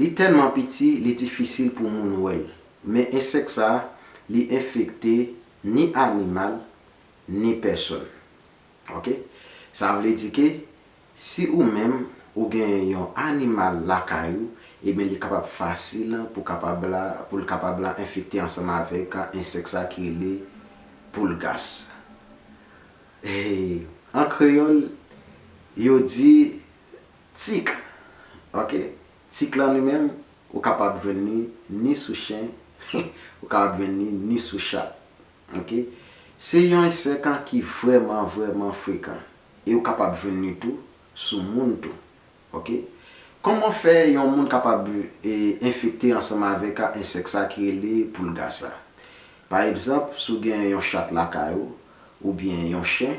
Li tèlman piti li difisil pou moun wè l, men ensèk sa li enfekte ni animal ni pèsòn. Ok. Sa vle di ke si ou menm ou genyen yon animal lakay ou, ebyen li kapab fasil pou kapab la pou l kapab la enfekte ansanm avèk ensèk sa ki rele Pulgas. An kreyòl yo di Tik, ok, tik lan li menm ou kapab jwenn li ni sou chen, ou kapab jwenn li ni sou chat. Ok. Se yon ensèk an ki vrèman vrèman frekan e ou kapab jwenn li tou sou moun tou. Ok. Kòman fè yon moun kapab enfekte ansanm avèk a ensèk sa ki rele poulga sa? Pa egzanp, si w gen yon chat lakay ou, oubyen yon chen,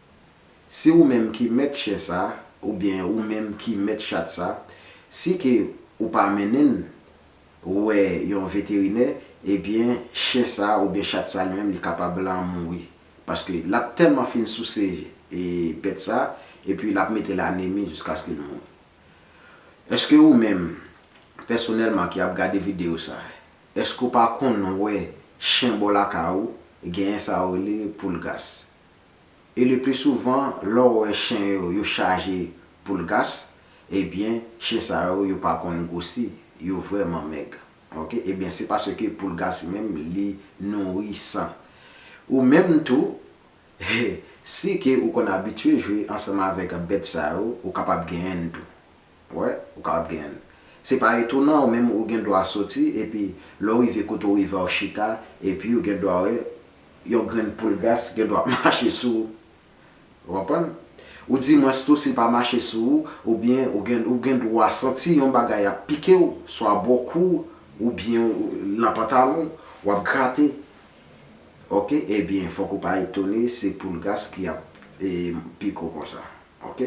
Si ou menm ki mèt chen sa, oubyen ou menm ki mèt chat sa, si ke ou pa mennen n wè yon veterinè, ebyen chen sa oubyen chat sa li menm li kapab lan mouri. Paske l ap tèlman fin souse bèt sa, epi l ap mete l anemi jiskaske l mouri. Eske ou menm, pèsonèlman ki ap gade videyo sa, eske ou pa konn wè chen bò lakay ou genyen sa yo rele poulgas? e le pli souvan lè w wè chen yo yo chaje poul gas ebyen chen sa yo yo pa konn gwosi yo vrèman mèg ok ebyen se paske poul gas menm li nouri san ou menm tou si ke ou konn abitye jwe ansanm avèk bèt sa yo ou kapab genyen n tou. Wè, ou kapab gen. Se pa etonan, ou menm ou gen dwa soti, epi lè w rive kote w rive a w chita, epi ou gen dwa wè yon grenn poulgas gen dwa ap mache sou ou. Ou konprann? Ou dimwens tou si l pa mache sou ou, oubyen ou gen ou gen dwa santi yon bagay ap pike w, swa bò kou w, oubyen nan pantalon w, w ap grate. Oke, ebyen fòk ou pa etone se poulgas ki ap pike w konsa. Ok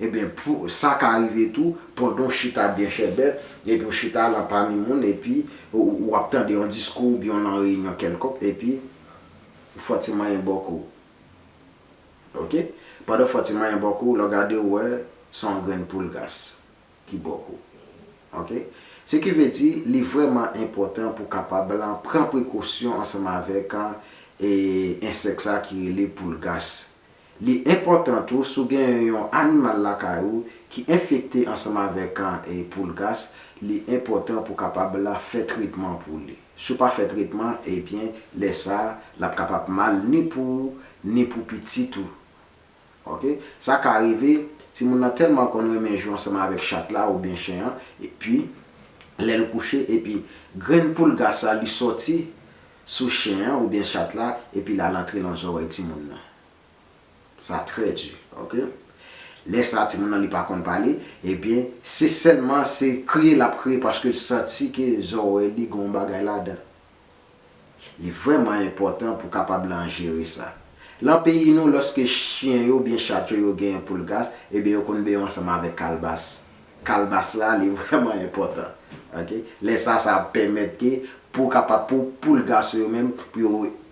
ebyen sa ka rive tou pandan w chita byen chèbè epi w chita lan pami moun epi ou ap tande yon diskou oubyen w lan reyinyon kèlkonk epi fò ti manyen bò kou w ok pandan fò ti manyen bò kou w lè w gade w wè se yon grenn poul gas ki bò kou w ok se ki vle di li vrèman enpòtan pou w kapab lan pran prekosyon ansanm avèk ensèk sa ki rele poul gas Li enpòtan tou si w gen yon animal lakay ou ki enfekte ansanm avèk poulgas, li enpòtan pou kapab fè tretman pou li. Si w pa fè tretman, ebyen lè sa l ap kapab mal ni pou ou ni pou pitit ou. Ok. Sa ka rive timoun nan tèlman konn renmen jwe ansanm avèk chat la oubyen chen an, epi lè l kouche epi grenn poulgas la li sòti sou chen an oubyen chat la epi lal antre lan zòrèy timoun nan sa trè di ok lè sa timoun nan li pa konn pale ebyen se sèlman se kriye lap kriye paskel santi ke zòrèy li gon bagay ladan li vrèman enpòtan pou kapab lan jere sa lan peyi nou lòske chyen yo oubyen chat yo yo gen poulgas ebyen yo konn beye ansanm avèk kalbas Kalbas la li vrèman enpòtan ok lè sa sa ap pèmèt ke pou kapab pou poul gason yo menm pou yo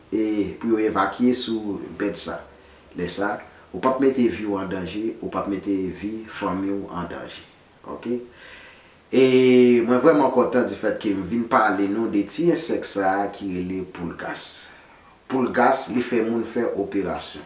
e pou yo evakye sou bèt sa lè sa ou pap mete vi w an danje ou pap mete vi fanmi w an danje ok e mwen vrèman kontan di fèt ke m vin pale nou de ti ensèk sa ki rele poulgas poulgas li fè moun fè operasyon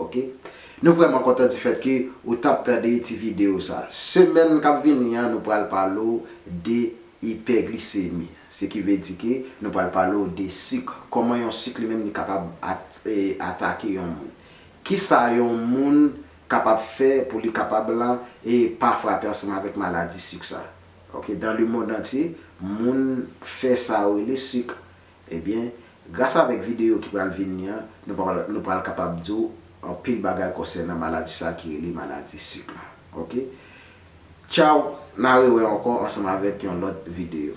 ok nou vrèman kontan di fèt ke ou tap tande ti video sa semèn kap vini an nou pral pale w de ipèglisemi se ki vle di ke nou pral pale w de sik kòman yon sik li menm li kapab atake yon moun kisa yon moun kapab fè pou li kapab lan e pa frape ansanm avèk maladi sik sa ok dan le mond antye moun fè sa yo rele sik Ebyen, gras avèk videyo ki pral vini an, nou pral kapab di w anpil bagay konsènan maladi sa ki rele maladi sik la. Ok. Tchaw, na rewè ankò ansanm avèk yon lòt videyo.